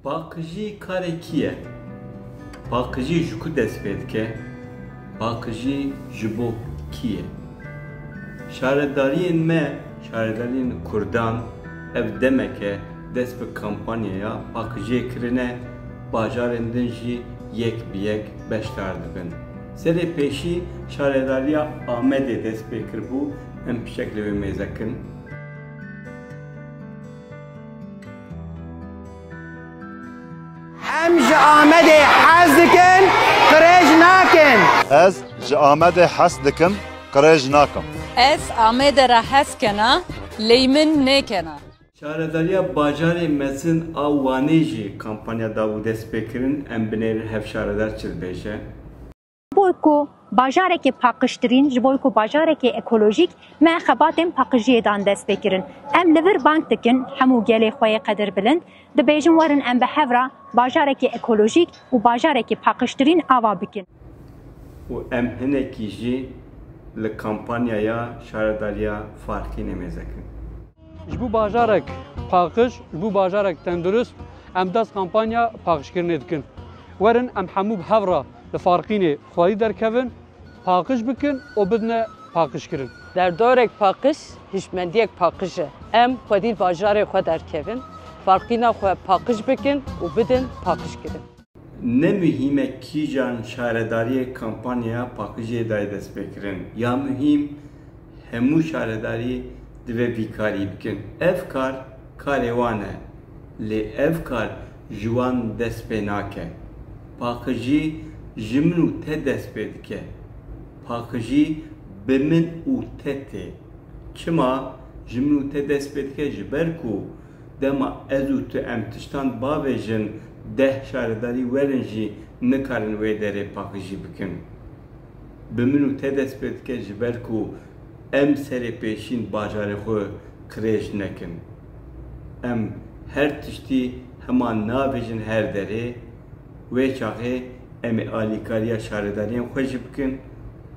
Paqijî karê kî ye? Paqijî ji ku dest pê dike? Paqijî ji bo kî ye? Şaredariyên me, şaredariyên Kurdan ev demeke dest bi kampanyaya paqijiyê kirine, bajarên din jî yek bi yek beşdar dibin. Serê pêşî Şaredariya Amedê dest pê kiribû, em pişek li vê mêze kin. Em ji Amedê hez dikin, qirêj nakin. Ez ji Amedê hez dikim, qirêj nakim. Ez Amedê re hez kena, ley min nêkena. Şaredariya bajarê mezin a Wanê jî kampanya da û destpêkirin Em binêrin hev şaredar çi dibêje. Ji bo ku bajarekê paqijtirîn, ji bo ku bajarekê ekolojîk, me xebatên paqijiyê dan destpêkirin. Em li vir bang dikin hemû gelê xwe yê qedirbilind, dibêjin werin em bi hev re bajarekê ekolojîk û bajarekê paqijtirîn ava bikin. Û em hinekî jî li kampanyaya şaredariya Farkî nêmêzekin. Ji bo bajarek paqij, ji bo bajarek tendurist em dest kampanya paqijkirinê dikin. Werin em hemû bi hev re li Farqînê xwedî derkevin, paqij bikin û bidine paqijkirin. Derdorek paqij, hişmendiyek paqij e. Em xwedî li bajarê xwe derkevin, Farqîna xwe paqij bikin û bidin paqijkirin. Ne muhîm e kîjan şaredariyê kampanyaya paqijê dayê destpêkirin ya muhîm hemû şaredarî divê vî karî bikin. Ev kar karê wan e lê ev kar ji wan dest pê nake. Paqijî ji min û te dest pê dike. Paqijî bi min û te tê. Çima ji min û te dest pê dike? Ji ber ku Dema ez û tu em tiştan bavêjin deh şaredarî werin jî nikarin wê derê paqijî bikin. Bi min û te dest pê dike ji ber ku em serê pêşîn bajarê xwe qirêj nekin. Em her tiştî hema navêjin her derê, wê çaxê em ê alîkariya şaredariyên xwe jî bikin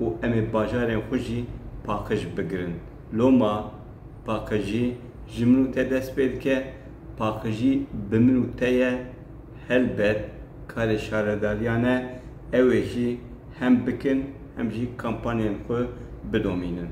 û em ê bajarên xwe jî paqij bigirin. Loma paqijî ji min û te dest pê dike, paqijî bi min û te ye. Helbet karê şaredariyan e ew ê jî hem bikin hem jî kampanyên xwe bidomînin.